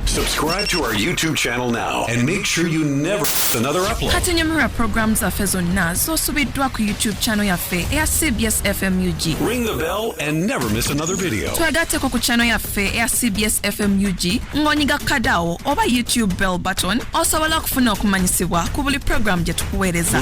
Subscribe to our YouTube channel now and make sure you never miss another upload. Kati nyamira program zaffe zonna zosubiddwa ku YouTube channel yaffe eya CBS FMUG. Ring the bell and never miss another video. Twagatteko ku channel yaffe eya CBS FMUG ng'onyiga kadawo oba YouTube bell button osobola okufuna okumanyisibwa ku buli program gye tukuweereza.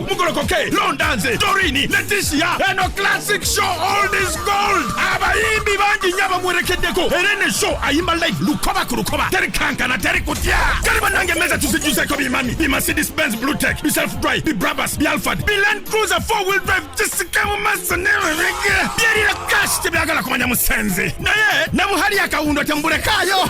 mugolokoke londa nze dorini letisia eno classic show old is gold abayimbi bangi nnyo abamuwerekeddeko era ene show ayimba live lukoba ku lukoba teri kankana teri kutya kale banange emmeeza tuzijjuzeko bimami bi mercedes benz blue tech bi self drive bi brabus bi alfad bi land cruiser four wheel drive kisika mu maaso newerege byerira kashi tebyagala kumanya musenzi naye ne buhali akawundo tembulekaayo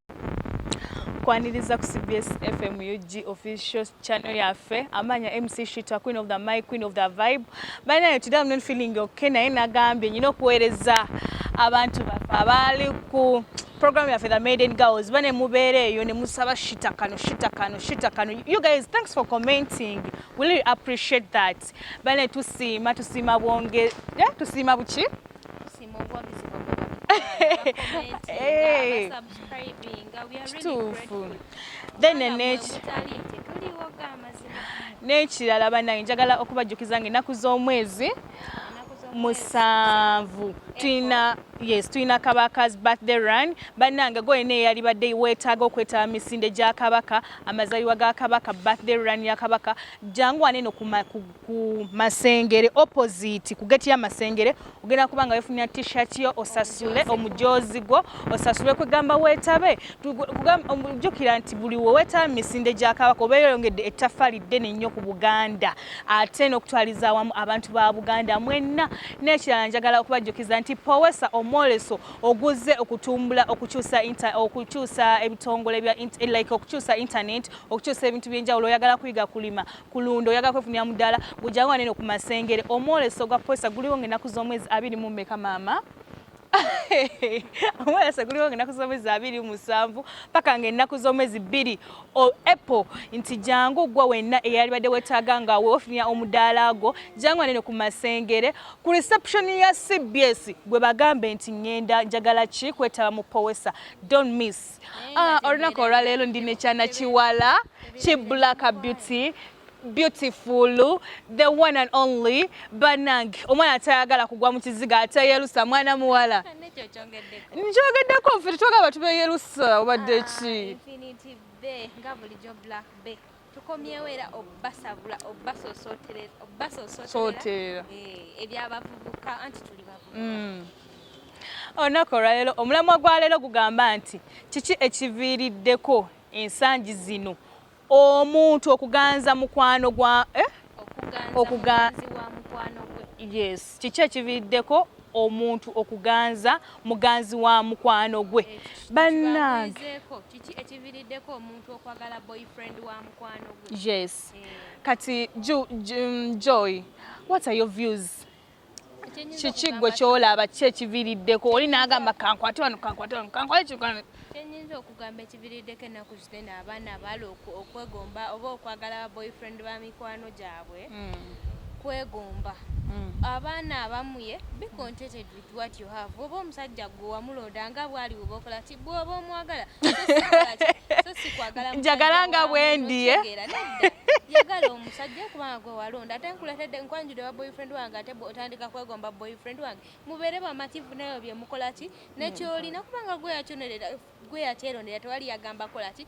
kwaniriza ku cbs fm ug official channel yaffe amanya mc shita queen of the mic queen of the vibe banaye today i'm not feeling okay naye nagambye nyina okuweereza abantu baffe abaali ku program yaffe the maiden girls ba ne mubeera eyo ne musaba shita kano shita kano shita kano you guys thanks for commenting we really appreciate that bane tusiima tusiima bwonge yeah, tusiima buki kituufu then neki n'ekirala banange njagala okubajjukiza nga ennaku z'omwezi musanvu tulina yes tulina kabaka's birthday run bannange gwolina eyalibadde weetaaga okwetaba misinde gya kabaka amazaliwa ga kabaka birthday run ya kabaka jangu wane no ku Masengere opposite ku geti ya Masengere ogenda kuba nga wefunira t-shirt yo osasule omujozi gwo osasule kwegamba wetabe ojjukira nti buli wewetaba misinde gya kabaka obeera oyongedde ettaffaali ddene nnyo ku buganda ate n'okutwaliza awamu abantu ba buganda mwenna n'ekirala njagala okubajjukiza nti powesa omwoleso oguzze okutumbula okukyusa okukyusa ebitongole bya like okukyusa internet okukyusa ebintu byenjawulo oyagala kuyiga kulima kulunda oyaga kwefunira mudala gujawo anene ku masengere omwoleso gwa posa guliwo ngenaku z'omwezi abiri mu meka maama omwolesa guliwo ngenaku z'omwezi abiri musanvu paka nga ennaku z'omwezi bbiri apple nti jangu gwa wenna eyalibadde wetaaga nga wewofunira omudaala gwo jangu anene ku masengere ku reception ya cbs gwe bagambe nti ngenda njagala ki kwetaba mu powesa don miss Ah, olunaku olwaleero ndi nekyana kiwala ki black beauty beautiful the one and only banange omwana atayagala kugwa mu kiziga ateyerusa mwana muwala nkyogeddeko nfe tetwagala batubeyerusa obadde ah, ki tukomyewo era obbasabula obbasosooterera obbasosooterera eh, ebyabavubuka anti tuli bavubuka mm. olunaku olwaleero omulamwa gwa leero gugamba nti kiki ekiviiriddeko ensangi zino omuntu okuganza mukwano gwa eh? okuganza yes kiki ekiviiriddeko omuntu okuganza muganzi wa mukwano gwe bannange kiki ekiviiriddeko omuntu okwagala boyfriend wa mukwano gwe yes eh. kati mm, joy what are your views kiki gwe kyolaba ki ekiviriddeko oli nagamba kankwate wano kankwate wano kankwate kikwana kyenyinza okugamba ekiviriddeko ennaku zitena abaana abaala okwegomba oba okwagala ba boyfriend ba mikwano gyabwe hmm. kwegomba hmm. abaana abamuye be contented with what you have oba omusajja gwe wamulonda nga bwali woba okola bwoba omwagala so sikwagala njagala nga bwendi eh? yagala omusajja kubanga gwe walonda ate nkuletedde nkwanjudde wa boyfriend wange ate otandika kwegomba boyfriend wange mubeere bamativu nayo byemukola ki nekyolina kubanga gwe yakyonerera gwe yakyerondera tewali yagamba kola ki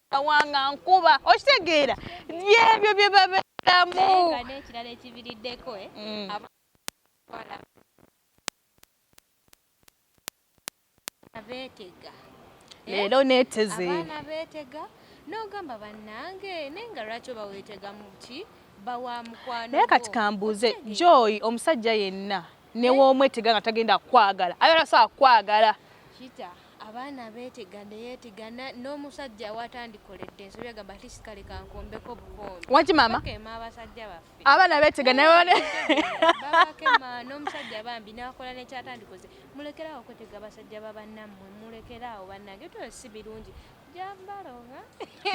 kawanga nkuba okitegeera byebyo bye babeeramu n'ekirala ekibiriddeko eh, mm. abeetega eh? leero neeteze abaana beetega n'ogamba bannange naye nga lwaki oba weetegamu ki bawa mukwano naye kati kambuuze joy omusajja yenna newomwetega nga tagenda kwagala ayala saa kwagala kita abaana betega neyetega n'omusajja watandikoledde ensobi agamba ati sikale kankombeko obukombe waki mama abasajja baffe abaana betega n'omusajja bambi nakola nekyatandikoze mulekerawo okwetega abasajja babannammwe mulekerawo bannange tyo si birungi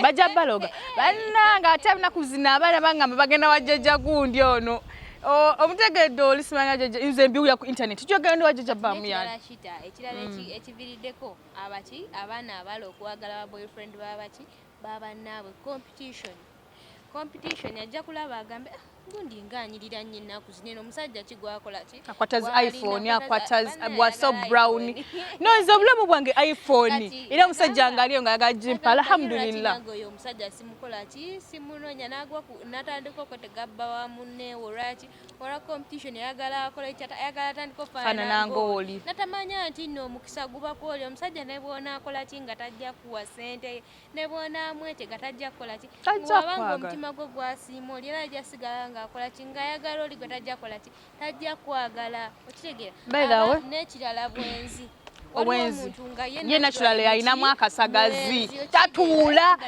bajja baloga bannange ate abina kuzina abaana bangamba bagenda wajjaja gundi ono omutegedde oli simanya jaja nze mbiwulira ku intaneti kyogera ndi wajaja bamu yanikita ekirala mm. ekiviriddeko abaki abaana abala okwagala ba boyfriend babaki babannaabwe competition competition ajja kulaba agambe ah, gundi nga anyirira nnyo ennaku zino eno omusajja ki gwakola ki akwata zi iphone akwata bwaso brown no nze obulamu bwange iphone era omusajja nga aliyo nga ayagala gimpa alhamdulillah oyo omusajja simukola ki simunoonya n'agwa n'atandika okwetega bba wa munne olwaki olwa competition ayagala akola ekyata ayagala atandika ofaanana ng'oli natamanya nti nno omukisa guba kwoli omusajja ne bw'onaakola ki nga tajja kuwa ssente ne bw'onaamwetega tajja kukola ki bw'aba ng'omutima gwe gwasiima oli era ajja sigala ng'akola ki ng'ayagala oli gwe tajja kukola ki tajja kwagala okitegeera n'ekirala bwenzi obwenzi ye natural alinamu akasagazi tatuula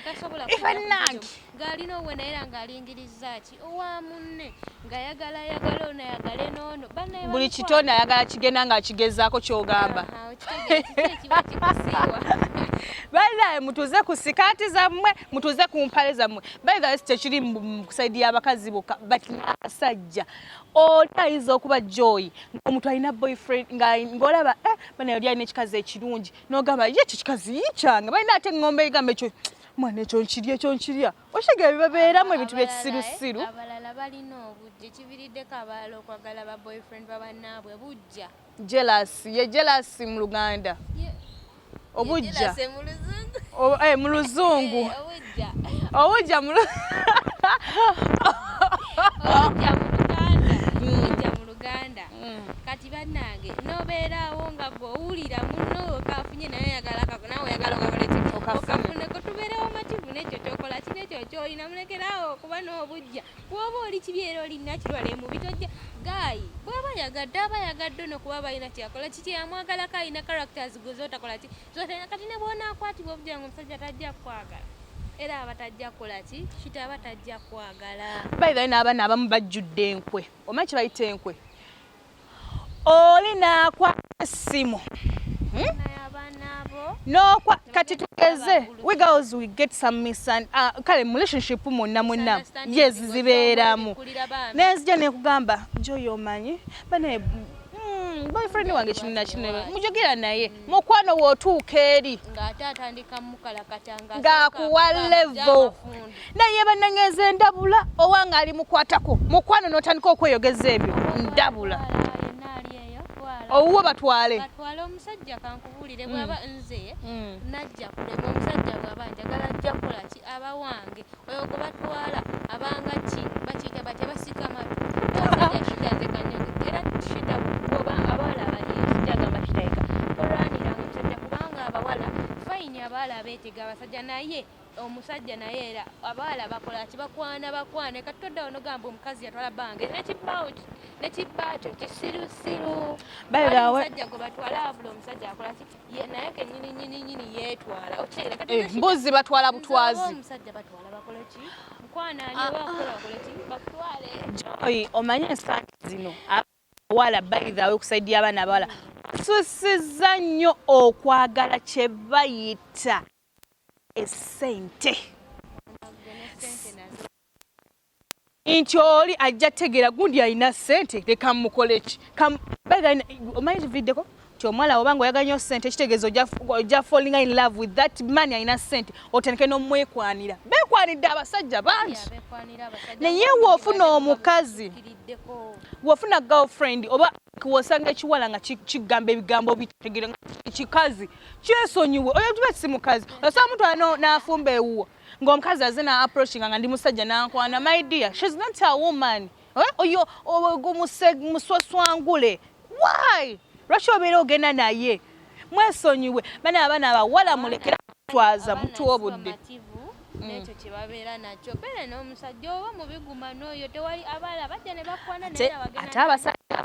ifanange ng'alina obwe naye era ng'alingiriza ki buli kitone ayagala kigenda nga akigezaako kyogamba banaye mutuze ku sikaati zammwe mutuze ku mpale zammwe baithas tekiri musaidi y'abakazi boka but abasajja oli ayinza okuba joyi omuntu alina boyfriend ngaolaba eh, banaye oli alina ekikazi ekirungi nogamba ye ekyo kikazi yikyanga balina ate eŋombe egamba ekyo mwana ekyo nkirya ekyo nkirya Oshega bibabeeramu ebintu byekisirusiru. Abalala balina obujja ekiviriddeko abalala okwagala ba boyfriend babannaabwe bujja. Jealous ye jealous mu Luganda. Obujja. Eh, mu Luzungu. Eh, obujja mu Luganda. Uganda mm. kati banange nobeerawo nga gwe owulira muno okafunye naye oyagala nawe oyagala okakole okafune kotubeerewo mativu nekyo kyokola ki nekyo kyolina mulekerawo kuba n'obujja woba oli kibi era olina kirwala emubi tojja gaayi bwaba yagadde aba yagadde ono kuba balina kyeyakola kiki yamwagalako alina characters gwe zotakola ki zotalina kati ne bwonakwatibwa obujja nga omusajja tajja kukwagala era abatajja kukola ki kita abatajja kwagala bayibayo n'abaana abamu bajjudde enkwe Omanyi kibayita enkwe. Oli naakwa essimu. Hmm? N'okwa kati tugeze we girls we get some misan uh, kale mu relationship munna munna yes zibeeramu naye nzija nekugamba njoyo omanyi bane hmm, boyfriend wange kino na kino mujogera naye mukwano wotuuka eri ng'akuwa levo naye banangeeza endabula owa ng'ali mukwatako mukwano n'otandika okweyogeza ebyo ndabula owuwo batwale batwale omusajja kankubuulire mm. bwaba nze mm. najja kulema omusajja bwaba njagala ajja kukola ki aba wange Oyo gwe batwala abanga ki bakiyita batya basika matu omusajja shida nze kanyogo era shida oba abawala abalinzi kyagamba shidayika tolwaniranga omusajja kubanga abawala fayini abawala abeetega abasajja naye omusajja naye era abawala bakola ki bakwana bakwana kati todda onogamba omukazi yatwala bange nekibbawo nekibbakyo kisirusiru omusajja gwe batwala abula omusajja akola ki mbuzi eh, batwala butwazi joyi omanye ensangi zino abawala bayidhawe okusaidia abaana abawala susiza nnyo okwagala kye bayita esente nti oli ajja tegera gundi alina sente leka mukoleki omanyi kividdeko ti omwala obanga oyagala nyo sente ekitegeezo oja falling in love with that man alina sente otandike nomwekwanira bekwanidde abasajja bangi naye wofuna omukazi wofuna girlfriend oba wosanga ekiwala nga kigamba ebigambo bitegeera kikazi kyesonyiwe oyo tuba si mukazi osanga mutwala n'afumba ewuwo ng'omukazi aze na approachinga nga ndi musajja nankwana my dear shes not a woman eh, oyo muswaswangule why lwaki obeera ogenda naye mwesonyiwe bana abaana abawala mulekera kutwaza mutuwa obudde Mm. nekyo kyebabeera nakyo beera n'omusajja oba mubiguma n'oyo tewali abaala bajja ne bakwana naye ate abasajja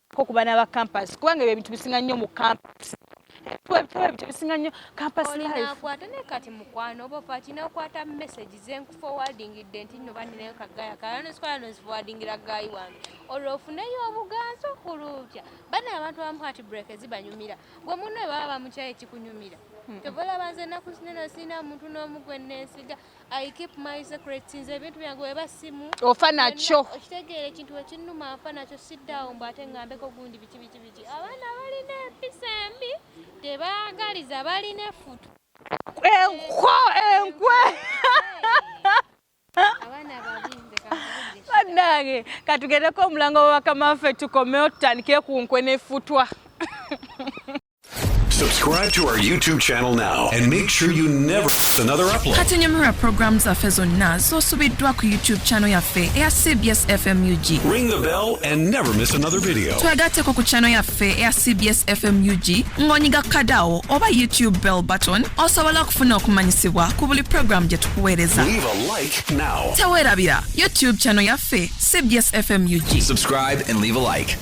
ko ku baana ba campus kubanga ebyo ebintu bisinga nnyo mu campus tebisinga nnyo campusinakwata naye kati mukwano oba ofa kina okwata message zenkufowadingidde nti no baninayo kagaya kalanosikwala nozifowadingira gayi wange olwo ofuneyo obuganzi okulutya bana abantu abamu kati break ezibanyumira gwe munno baba bamukyayo ekikunyumira kyovolaba nze enaku zinene sirina muntu n'omu gwe nensiga I keep my secrets nze ebintu byange weba simu ofa nakyo okitegeera ekintu wekinnuma afa nakyo siddawo mbu ate ngambeko gundi biki biki biki abaana balina empisa embi tebaagaliza balina efutu enko enkwe bannange katugendeko omulango wa bakama baffe tukomewo tutandikire ku nkwe nefutwa Subscribe to our YouTube channel now and make sure you never miss another upload. Kati nyumira program zaffe zonna z'osubiddwa ku YouTube channel yaffe eya CBS FMUG. Ring the bell and never miss another video. Twagatteko ku channel yaffe eya CBS FMUG ng'onyiga kadawo oba YouTube bell button osobola okufuna okumanyisibwa ku buli program gye tukuweereza. Leave a like now. Teweerabira YouTube channel yaffe CBS FMUG. Subscribe and leave a like.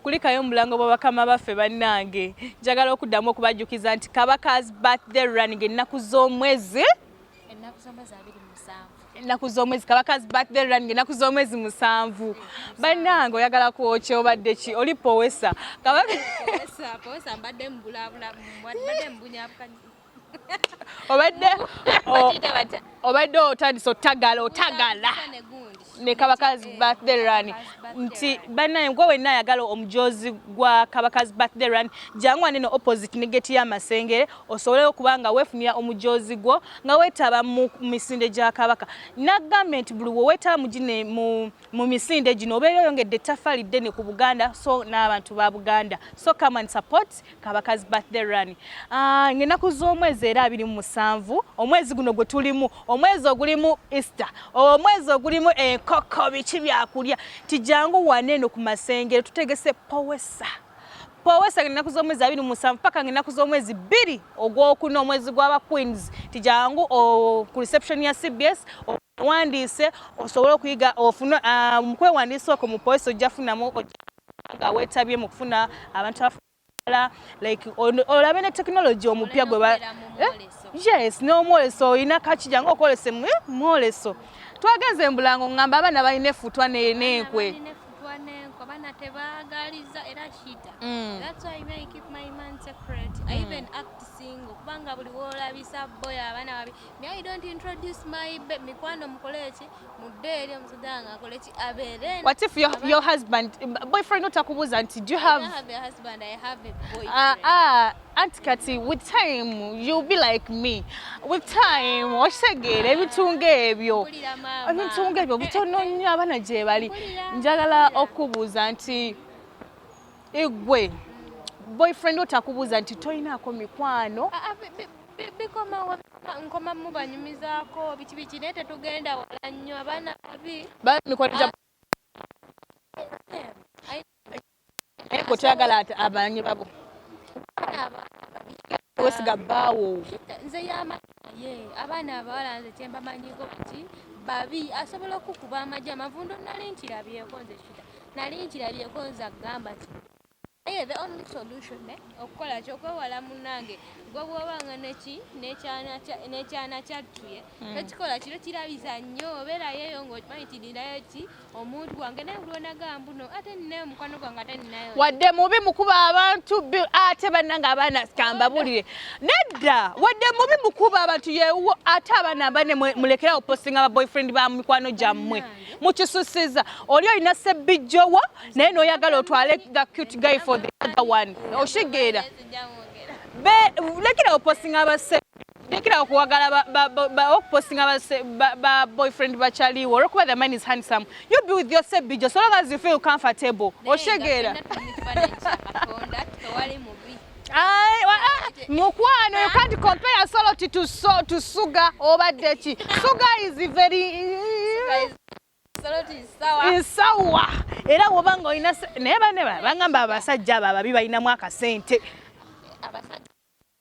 kulikayo mubulango bwa bakama baffe bannange njagala okuddamu okubajjukiza nti kabaka's birthday running ennaku z'omwezi ennaku z'omwezi abiri ennaku z'omwezi kabakazi birthday run ngaennaku z'omwezi musanvu bannange oyagala kwoki obadde ki oli powesa kabaka obadde obadde otandise otagala otagala ne kabakazi eh, birthday run nti banaye gwe wenna ayagala omujozi gwa kabakazi birthday run jangu anene opposite ne geti y'amasengere osobole okuba nga weefunira omujozi gwo nga weetaba mu misinde gya kabaka nagambye nti buli weweetaba mugine mu misinde gino obeera oyongedde ettafaali ddene ku buganda so n'abantu ba buganda so come and support kabakazi birthday run ah, ngenaku z'omwezi era abiri mu musanvu omwezi guno gwe tulimu omwezi ogulimu easter omwezi ogulimu enkoko biki byakulya tijangu wane eno ku masengero tutegese powesa powesa ngenaku z'omwezi abiri mu musanvu paka ngenaku z'omwezi bbiri ogwokuna omwezi gwaba queens tijangu oh, ku reception ya cbs oh, wandiise osobole okuyiga ofune ah, mukwewandiisa okwo mu powesa ojja funamu awetabye mu kufuna abantu abaala like olabe ne tekinologi omupya gwe eh? yes n'omwoleso olina kakija nga okwolesa eh, mwoleso twagenze embulango ngamba abaana balina efutwa nenkwe abana tebagaliza era shida mm. that's why me I keep my man secret mm. I even act single kubanga buli wolabisa boy abana babi me I don't introduce my mikwano mukole ki What if your, your husband, boyfriend not akubuza nti do you have... I don't have a husband, I have a boyfriend. Ah, uh, ah, uh, Aunt Kati, with time you'll be like me. With time, osegere ebitunga ebyo. Ebitunga ebyo butono nnyo abana gyebali. Njagala okubuza nti Igwe boyfriend otakubuza nti toyinako mikwano ah, ah, bikomawo nkoma mubanyumizako biki biki naye tetugenda wala nnyo abaana babi bamikwano gya naye gwe toyagala abanye babo wesiga bbaawo nze yamanaye abaana abawala nze kyembamanyiko kati babi asobola okukuba amaja amavundo nali nkirabyeko nze kita nali nkirabyeko nze agamba ti naye the only solution eh, okukola ki okwewala munange gwe bwobanga neki nekyana kyattuye hmm. ekikola kiro kirabiza nnyo obeerayo eyo ngaokimanyi tidirayo ki omuntu wange naye bulwonaga mbuno ate ninayo mukwano gwange ate ninayo wadde mubi mukuba abantu ate bannange abaana kambabulire nedda wadde mubi mukuba abantu yewo ate abaana bane mulekerawo postinga ba boyfriend ba mikwano gyammwe mukisusiza oli olina sebbijjowo naye noyagala otwale the cute guy for the other one oshigera lekerawo postinga abasebbi Lekera okuwagala okupostinga ba boyfriend ba Charlie or okuba the man is handsome. You be with your sebbijo so long as you feel comfortable. Oshegeera. mukwano you can't compare solo to, to, so, to sugar obadde ki sugar is very nsawa era woba nga olina naye bane bangamba abasajja abo ababi balinamu akasente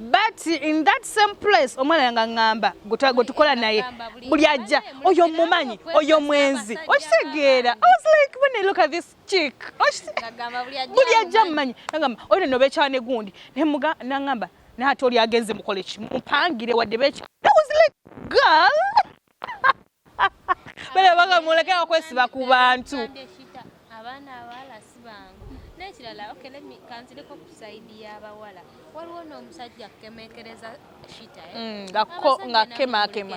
but in that same place omwana nga ngamba gwetukola naye buli ajja oyo mumanyi oyo mwenzi okitegeera i was like when i look at this chick buli ajja mumanyi nagamba oyo neno bekyane gundi nemuga nangamba naate oli agenze mukole ki mumpangire wadde bekyane i was like girl bale baga mulekera okwesiba ku bantu abaana abawala si bangu n'ekirala okay let me kanzireko ku saidi y'abawala waliwo n'omusajja kukemekereza shita eh? mm, ngakemakema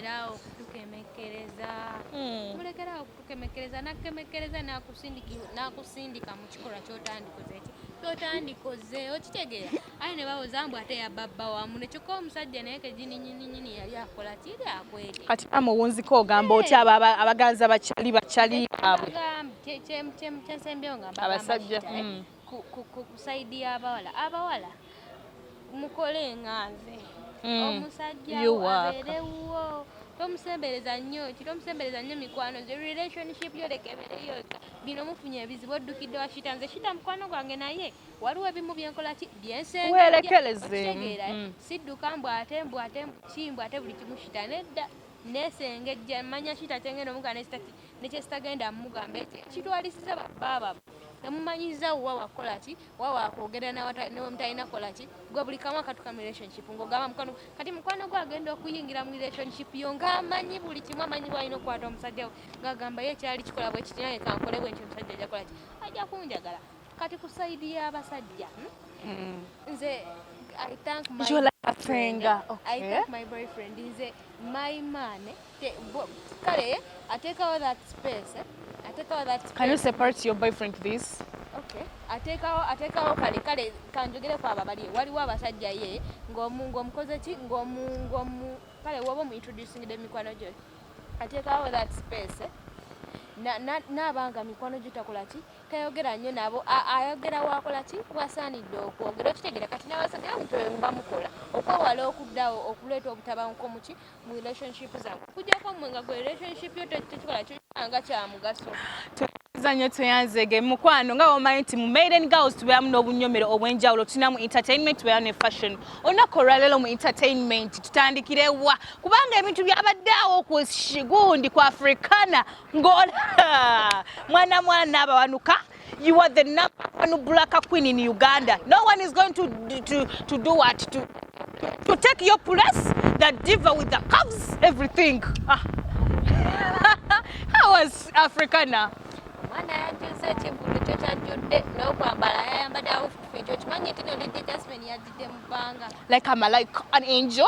kukemekereza hmm. mulekerawo kukemekereza nakukemekereza nakusindika mu kikolwa kyotandikoze eki kyotandikoze okitegeera aye ne bawoza mbu ate yababba wamu ne kyokka omusajja naye kegininyinyini yali akola kiri akwete kati ama owunzika ogamba otya abaganza bakyali bakyali abwe kyensembyewo ngamba abasajja hmm. ku saidi y'abawala abawala mukole nga nze hmm. omusajja abeere wuwo tomusembereza nnyo kitomusembereza nnyo mikwano gye relationship yo lekebereyo bino mufunye ebizibu oddukidde wa shita nze shita mukwano gwange naye waliwo ebimu byenkola ki byensengeerekerezeemutegeera mm, mm. sidduka mbu ate mbu ate kimbu ate buli kimu kita nedda nesengejja manya kita kyengenda omuga nekyesitagenda mugamba ekyo kitwalisiza babaaba nemumanyiza wa wakola ki wa wakwogera newemutalina kola ki gwe buli kamu akatuka mu relationship ngaogamba mukwano kati mukwano gwe agenda okuyingira mu relationship yo ngaamanyi buli kimu amanyi bwalina okukwata omusajja we ngaagamba ye kyali kikola bwekitinaye kankole bwentyo omusajja ajakola ki ajja kunjagala kati ku side ya basajja hmm? nze I thank my you like a finger okay. I thank my boyfriend nze my man kale atekawo that space eh? atekawo that space. can you separate your boyfriend please atekawo atekawo kale kale kanjogere ku aba bali waliwo abasajja ye ng'omu ng'omukoze ki ng'omu ng'omu kale woba omu introducing de mikwano gyo atekawo that space n'abanga mikwano gyo takola ki tayogera nnyo nabo ayogera wakola ki wasaanidde okwogera okitegera kati nabasajja bamuto bamukola okwewala okuddawo okuleeta obutabanguko muki mu relationship zange okujjako mwe nga gwe relationship yo tekikola kyoanga kyamugaso zanyo tweyanzege mukwano nga womanyi nti mu maiden girls tubeeramu n'obunyomero obw'enjawulo tulina mu entertainment tubeeramu ne fashion olunaku olwaleero mu entertainment tutandikirewa kubanga ebintu byabadde awo ku shigundi ku africana Ngola mwana mwana abawanuka you are the number one black queen in Uganda no one is going to to to do what to to take your place the diva with the curves everything ah. how was Africana mwana yajjuza ekivulu kyo kyajjudde n'okwambala yayambadde awufu ekyo kimanyi nti nolidde jasmine yajjidde mu bbanga like I'm like an angel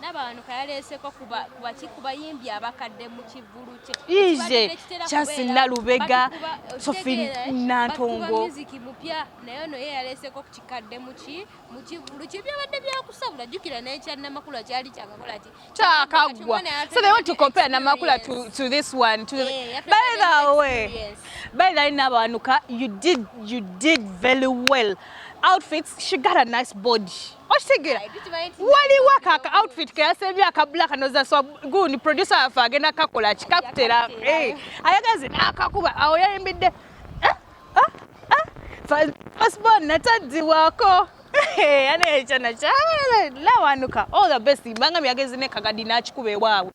nabawanuka yaleeseko kubaki kubayimbi abakadde mu kivulu kye kyasi nalubega sofi nantongo muziki mupya naye ono ye yaleeseko kukikadde muki mu kivulu kye byabadde byakusabula jjukira naye kya namakula kyali kyakakola ki kyakaggwa so they want to compare namakula to, to this one to the... yeah, by the way yes. by the way nabawanuka you did you did very well outfits she got a nice body okitegera waliwo kaka outfit keyasembye akabulaka nozaswa gundi producer waffe agenda kakola kikakutera eh, ayagazi nakakuba awo yayimbidde eh, eh, fasbon nataddiwako ane ekyana kyalawanuka all the best mbanga myagezi ne kagadi nakikuba ewaabwe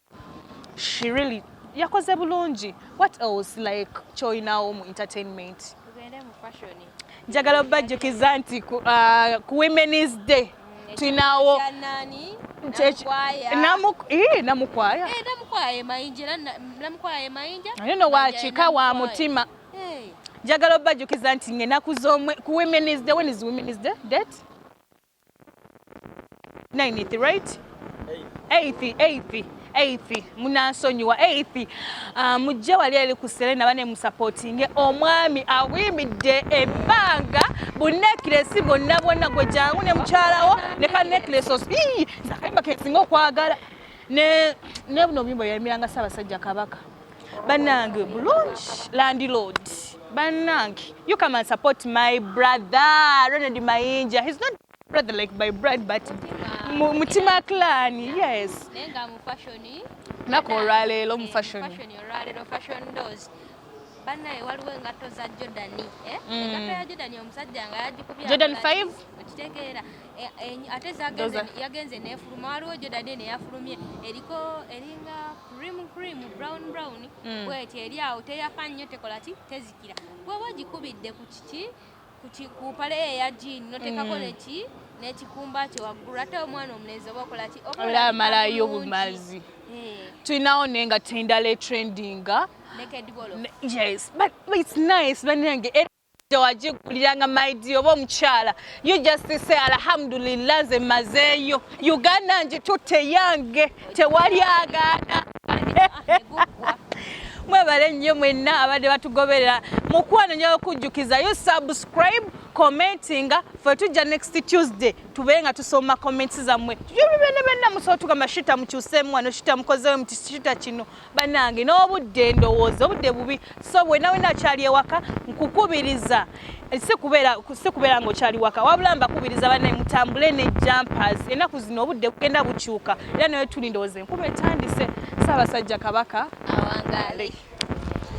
she really yakoze bulungi what else like kyoyinawo mu entertainment tugende mu fashion njagala obajjukiza nti ku uh, women's day tulinawo namukwaya naye nowakika wa mutima njagala obajjukiza nti ngenaku zomwe ku women's day when is women's day date Ninth, right? Eighth, eighth, eighth. Munansonyiwa eighth. Uh, mujje wali ali ku Serena bane musupportinge omwami awimidde ebbanga bu necklace bonna bonna gwe jangu ne mukyalawo ne ka necklace osi zakayimba kesinga okwagala ne ne buno bimbo yayimiranga Ssaabasajja Kabaka banange bulungi landlord banange you come and support my brother Ronald Mayinja he's not brother like my brother but mutima clan yes nenga mu fashion nako olwaleero mu fashion fashion olwaleero fashion doors banaye waliwo engatto za Jordan eh mm. engatto ya Jordan omusajja nga yagikubya Jordan 5 okitegeera Eh, eh, ate yagenze nefuluma waliwo jodade neyafulumye eriko eringa cream cream brown brown mm. bweti eri awo teyafa nnyo tekola ki tezikira bweba ogikubidde ku kiki ku pale eya jiini notekako mm. neki nekikumba kye waggulu ate omwana omulenzi oba okola ki obeera amalayo obumazi eh. tulinawo naye nga tendala etrendinga yes but it's nice banange wagiguliranga my dear oba omukyala you just say alhamdulillah nze mazeeyo uganda ngitutte yange tewali agaana mwebale nnyo mwenna abadde batugoberera mukwano nja okujjukiza yo subscribe commentinga fe tujja next tuesday tube nga tusoma comments zammwe tujobibenna benna musobola tugamba shita mukyuseemu wano shita mukozeemu shita kino banange n'obudde ndowooza obudde bubi so wena wena akyali ewaka nkukubiriza eh, sikubeera nga okyali waka wabula mbakubiriza banaye mutambule ne jumpers enaku zino obudde bugenda bukyuka era naye tuli ndowooza enkuba etandise saabasajja kabaka awangale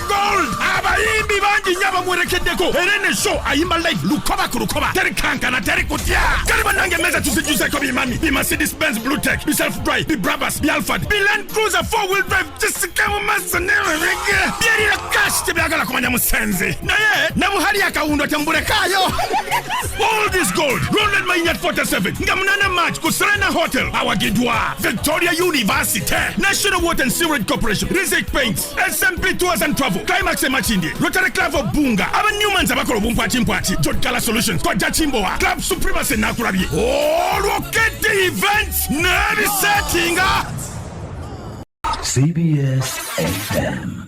gold abayimbi bangi nnyo abamuwerekeddeko era ene show ayimba live lukoba ku lukoba teri kankana teri kutya kale banange emmeeza tuzijjuzeko bimami bi mercedes benz blue tech bi self drive bi brabus bi alfad bi land cruiser four wheel drive kisike mu maaso nererege byerira kashi tebyagala kumanya musenzi naye ne buhali akawundo temubulekaayo all this gold ronald mayinyat 47 nga munana march ku serena hotel awagidwa victoria university national water and sewerage corporation rizek paints smp tours and travel climax emakindye rotary club of bunga aba newmans abakola obumpwakimpwaki jotgala solutions kojja kimbowa club supremacy nakulabye olwokete events nebisetinga cbs fm